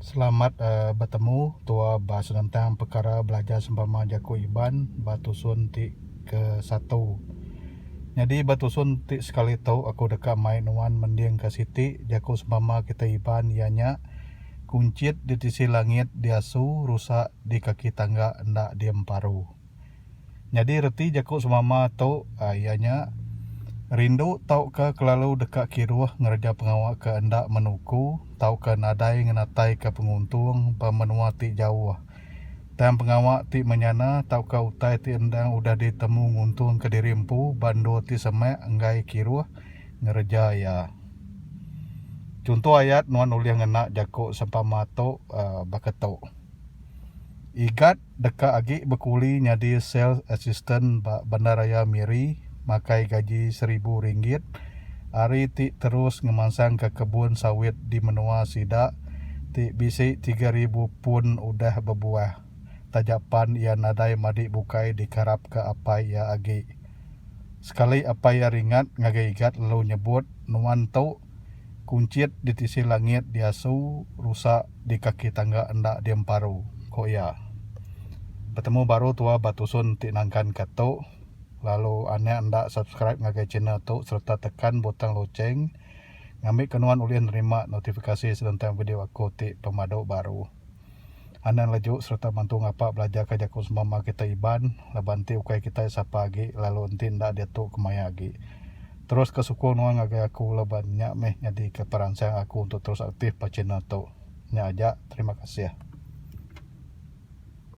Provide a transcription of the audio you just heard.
Selamat betemu tua ba senentang pekara belajar sempama jaku Iban ba tusun ti ke satu. Nyadi ba tusun ti sekali tu aku deka mai nuan mending ka siti jaku sempama kitai Iban iya nya Kunchit ditisi langit diasu rusak di kaki tangga enda diemparu. Nyadi reti jaku semama tu iya nya rindu tauka kelalu deka kiruh ngereja pengawa ke enda menuku tauka nadai ngenataika penguntung ba menua ti jauh. Tang pengawa ti menyana tauka utai ti endang udah ditemu nguntungka diri empu ba endur ti semak enggai kiruh ngereja iya. Chunto ayat nuan ulih ngena jaku sempama tu baka tu, Igat Deka agi bekuli nyadi sales assistant ba bandaraya Miri makai gaji seribu ringgit ari ti terus ngemansangka kebun sawit di menua sida ti bisi tiga ribu pun udah bebuah taja pan iya nadai madi bukai dikeharapka apai iya agi. Sekali apai iya ringat ngagai igat lalu nyebut nuan tu. Kunchit ditisi langit diasu rusa di kaki tangga enda diemparu, ku iya. Betemu baru tua ba tusun ti nangkan ka tu lalu anak enda subscribe ngagai channel tu sereta tekan butang loceng ngambika nuan ulih nerima notifikasi senentang video aku ti pemadu baru. Anang leju sereta mantu ngapa belajarka jaku semama kitai Iban laban enti ukai kitai sapa agi lalu enti enda diatu kemaya agi. Teruska sukung nuan ngagai aku laban nya meh nyadika peransang aku untuk terus aktif ba channel tu. Nya aja, terima kasih.